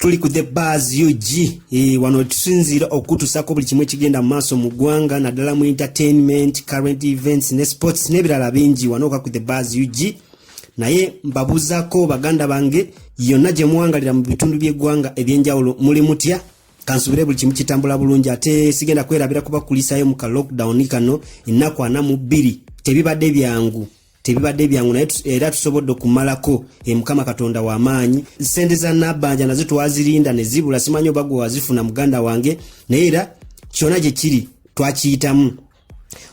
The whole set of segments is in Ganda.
tuli ku the bars ug e, wano tusinziira okutusako buli kimu ekigenda mu maaso mu ggwanga naddala mu entertainment current events ne sports n'ebirala bingi wano oka ku the bars ug naye mbabuuzako baganda bange yonna gye muwangalira mu bitundu by'eggwanga eby'enjawulo muli mutya kansubire buli kimu kitambula bulungi ate sigenda kwerabira kubakulisayo mu ka lockdown kano ennaku ana mu bbiri tebibadde byangu tebibadde byangu naye era tusobodde okumalako e mukama katonda w'amaanyi sente za nabbanja nazo twazirinda ne zibula simanyi oba gwe wazifuna muganda wange naye era kyona gye kiri twakiyitamu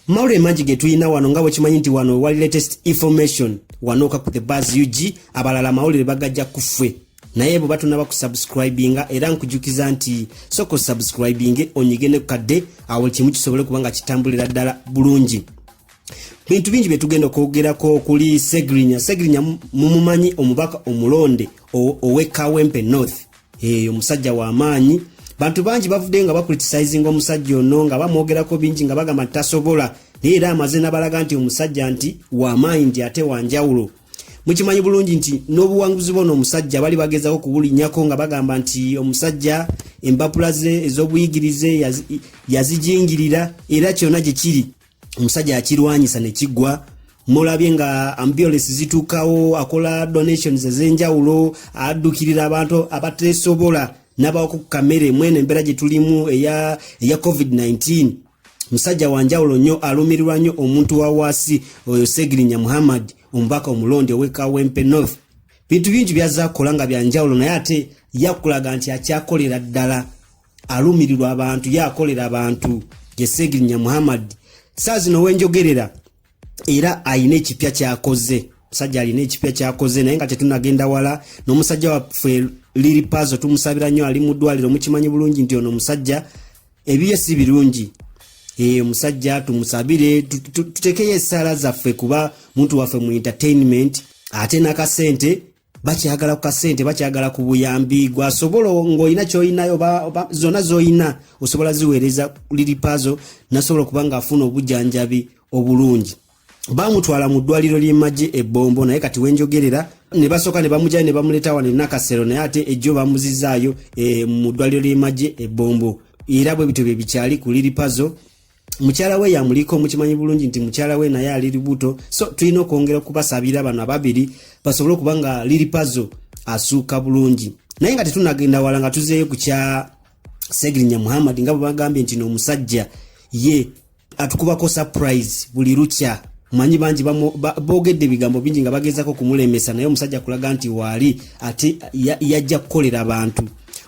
Mauro emanji getuyina wano nga bwekimanyi nti wano wali latest information wanoka ku the bas ug abalala amawulire bagajja kufwe naye bwe batonaba ku subscribinga era nkujukiza nti soka osubscribinge onyige ne kukadde awo kimu kisobole kuba nga kitambulira ddala bulungi bintu bingi bye tugenda okwogerako okuli segrinya segrinya mumumanyi omubaka omulonde owekawempe north eyo musajja wa maanyi bantu bangi bavudde nga bakulitisayizinga omusajja ono nga bamwogerako bingi nga bagamba tasobola naye era amaze nabalaga nti omusajja nti wamaanyi nti ate wanjawulo mukimanyi bulungi nti n'obuwanguzi bona omusajja bali bagezako kubulinyako nga bagamba nti omusajja empapula ze ez'obuyigirize yazijingirira era kyona gye kiri omusajja akirwanyisa ne kigwa mulabye nga ambulance zituukawo akola donations ez'enjawulo addukirira abantu abateesobola n'abawa ku kamere mwene embeera gye tulimu eya, eya covid-19 musajja wa njawulo nnyo alumirirwa nnyo omuntu wa waasi oyo segirinya muhammad omubaka omulonde owekawempe north bintu bingi byazza kukola nga bya njawulo naye ate yakulaga nti akyakolera ddala alumirirwa abantu ye akolera abantu gyesegirinya muhammad saa zino wenjogerera era alina ekipya kyakoze musajja alina ekipya kyakoze naye nga tetunagenda wala n'omusajja waffe liri pazo tumusabira nnyo ali mu ddwaliro mukimanyi bulungi nti ono omusajja ebiye si birungi eh, omusajja tumusabire tutekeyo esaala zaffe kuba muntu waffe mu entertainment ate nakasente bakyagala ku kasente bakyagala ku buyambi gwasobola ng'olina kyolinayo zonna zolina osobola ziweereza liripazo nasobola okuba ng'afuna obujanjabi obulungi bamutwala mu ddwaliro ly'emagye ebbombo naye kati wenjogerera ne basooka ne bamugyayo ne bamuleeta wano enakasero naye ate ejjo bamuzizaayo e, mu ddwaliro ly'emagye ebbombo era bwe bityo bye bikyali ku liripazo mukyala we yamuliko mukimanyi bulungi nti mukyala we naye ali lubuto so tulina okwongera okubasabira bano ababiri basobole okuba nga liri pazo asuuka bulungi naye nga tetunagenda wala nga tuzeeyo ku kya segirinya muhammad nga bwebagambye nti noomusajja ye atukubako surprise buli lukya manyi bangi boogedde ebigambo bingi nga bagezaako okumulemesa naye omusajja kulaga nti waali ate yajja kukolera bantu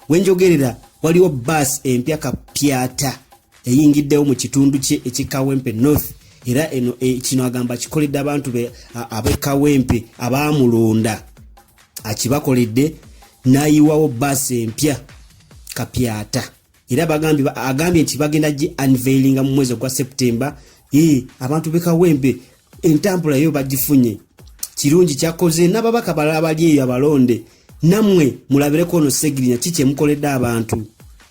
wenjogerera waliwo baasi empya kapyata eyingiddewo mu kitundu kye ekikawempe north era eno e, kino agamba kikoledde abantu be abekawempe abaamulonda akibakoledde n'ayiwawo baasi empya kapyata era agambye nti bagenda gi unveilinga mu mwezi ogwa septemba abantu bekawempe entambula yo bagifunye kirungi kyakoze n'ababaka balala bali eyo abalonde nammwe mulabireko ono segirinya ki kyemukoledde abantu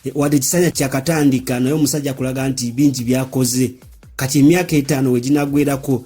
e, wadde ekisanya kyakatandika naye omusajja kulaga nti bingi byakoze kati emyaka etaano weginagwerako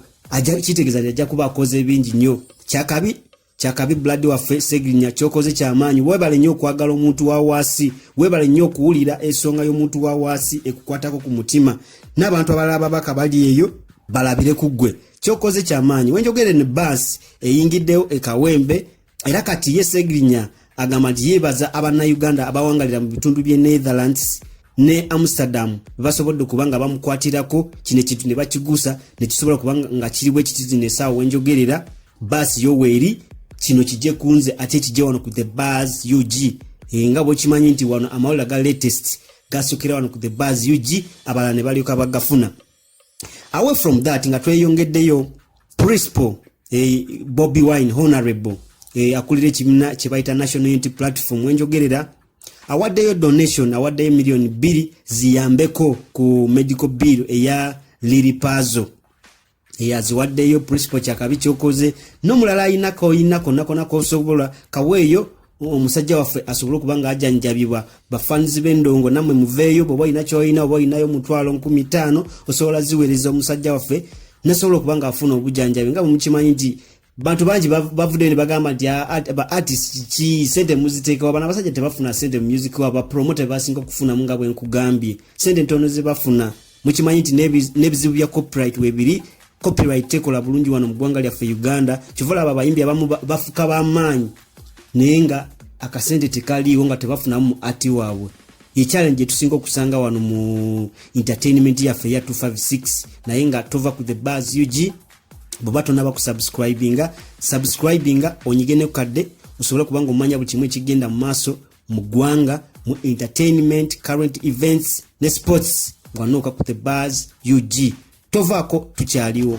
kitegeeza nti ajja kuba akoze bingi nnyo kyakabi kyakabi buladi waffe segirinya kyokoze kyamaanyi webale nnyo okwagala omuntu wa waasi webale nnyo okuwulira ensonga y'omuntu wa waasi ekukwatako ku mutima n'abantu abalala babaka bali eyo balabire ku ggwe kyokoze kyamaanyi wenjogere ne baasi eyingiddewo ekawembe era kati ye segirinya agamba nti yeebaza abannayuganda abawangalira mu bitundu by'e netherlands ne amsterdam bebasobodde okuba nga bamukwatirako kino ekintu ne bakigusa ne kisobola okuba nga kiri bwe kititi nesaawa wenjogerera baasi yoweeri kino kijje kunze ate kijje wano ku the bars ug eh, nga bwekimanyi nti wano amawulira ga latest gasukira wano ku the bars ug abalala ne balyoka bagafuna away from that nga tweyongeddeyo principal eh, bobi wine honorable eh, akulira ekibiina kye bayita national unity platform wenjogerera awaddeyo donation awaddeyo miliyoni bbiri ziyambeko ku medical bill eya liripazo eyaziwaddeyo principal kyakabi kyokoze nomulala ayina koyina konna kona kosobola kaweeyo omusajja waffe asobole okuba nga ajanjabibwa bafanzi b'endongo namwe muveeyo bwoba olina kyoyina oba olinayo mutwalo nkumi taano osobola ziweereza omusajja waffe nasobola okuba nga afuna obujanjabi nga bwemukimanyi nti bantu bangi bavuddeyo ne bagamba nti ah, ba artist ki sente muziteekawo bana abasajja tebafuna sente mu music wabo bapromota bebasinga okufunamu nga bwe nkugambye sente ntono ze bafuna mukimanyi nti n'ebizibu bya copyright webiri copyright tekola bulungi wano mu ggwanga lyaffe uganda kivola abo abayimbi abamu bafuka bamaanyi naye nga akasente tekaliiwo nga tebafunamu mu ati waabwe ye challenge gyetusinga okusanga wano mu entertainment yaffe eya 256 naye nga tova ku the bars ug bweba tonaba kusubscribinga subscribinga onyige ne kukadde osobole kubanga omanya buli kimu ekigenda mu maaso mu ggwanga mu entertainment current events ne sports ngwanooka ku the bars ug tovaako tukyaliwo